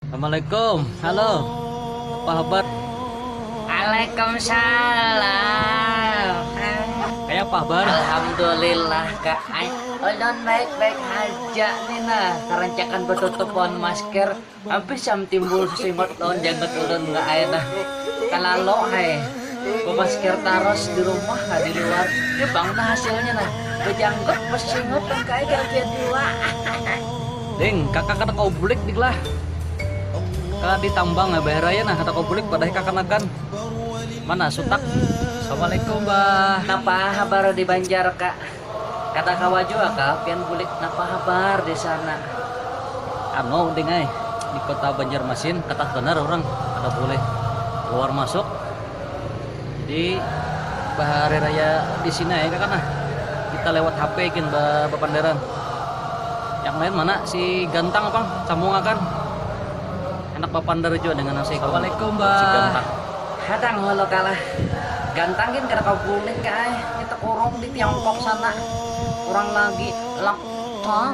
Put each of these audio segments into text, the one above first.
Assalamualaikum. Halo. Apa habar? Waalaikumsalam. Kayak apa habar? Alhamdulillah kak. Ay, ulun baik-baik aja nih nah. Karancakan betutup pohon masker. Habis yang timbul sesingot lawan janggut ulun nggak ay nah. Kalalo ay. Pemasker taros di rumah nah di luar. Di bang nah hasilnya nah. Bejanggut, besingot, dan kaya kira dua. Ding, kaka kada kawa bulik dik lah. Ka di tambang ha bahar aja nah kada kawa bulik padahi kakanakan. Mana sutak. Assalamualaikum bah. Napa habar di banjar ka. Kada kawa jua ka pian bulik napa habar di sana. Anu ding ai di kota banjarmasin katat banar urang kada boleh keluar masuk. Jadi bahari raya di sini aja kah nah kita lewat HP gin bapanderan. Yang lain mana si Gantang pang sambung akan. Enak bapander jua dengan nasi kalau Assalamualaikum ba si Gantang. Hadang walau kalah. Gantang gin kada kawa bulik ai, kita kurung di Tiongkok sana kurang lagi lockdown.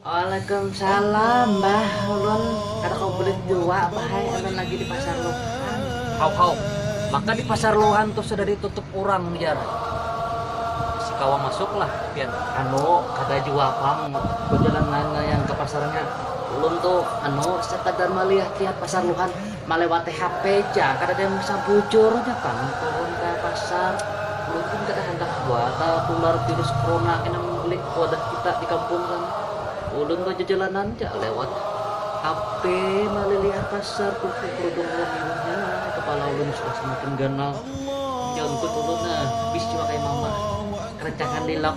Waalaikumsalam bah ulun kada kawa bulik jua bah ai ulun lagi di pasar luhan. Haw haw, maka di pasar luhan tuh sudah di tutup urang jar, masih kawa masuk lah pian. Anu kada jua pang bajalan lain lain ka pasarnya, ulun tuh anu sekadar malihat lihat pasar luhan. Malewati hape ja, kadada yang bisa bujur aja pang turun ka pasar, mungkin kada handak jua tatular virus corona kena membelik wadah kita di kampung sana, ulun bajajalanan ja lewat hape malilihat pasar tuku kerudung wan iwahnya, kepala ulun sudah semakin ganal, nyontut ulun nah, bis jua kaya mama, rancangan lilap.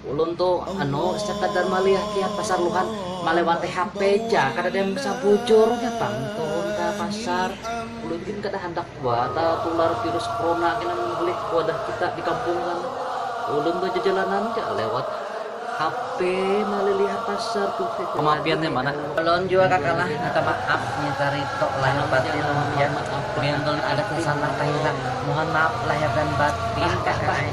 Ulun tu anu sekadar maliah kiat pasar luhan malewati HP ja kadada yang bisa bujur nya pang turun ka pasar ulun gin kada handak jua tatular virus corona kena menghulik wadah kita di kampung kan ulun tu jajalanan ja lewat HP malilihat pasar tu kamapian nya mana. Ulun jua kakalah minta maaf nya carito lahir batin kamapian, gin ulun ada sasalah kahilah mohon maaf lahir dan batin kakak ai.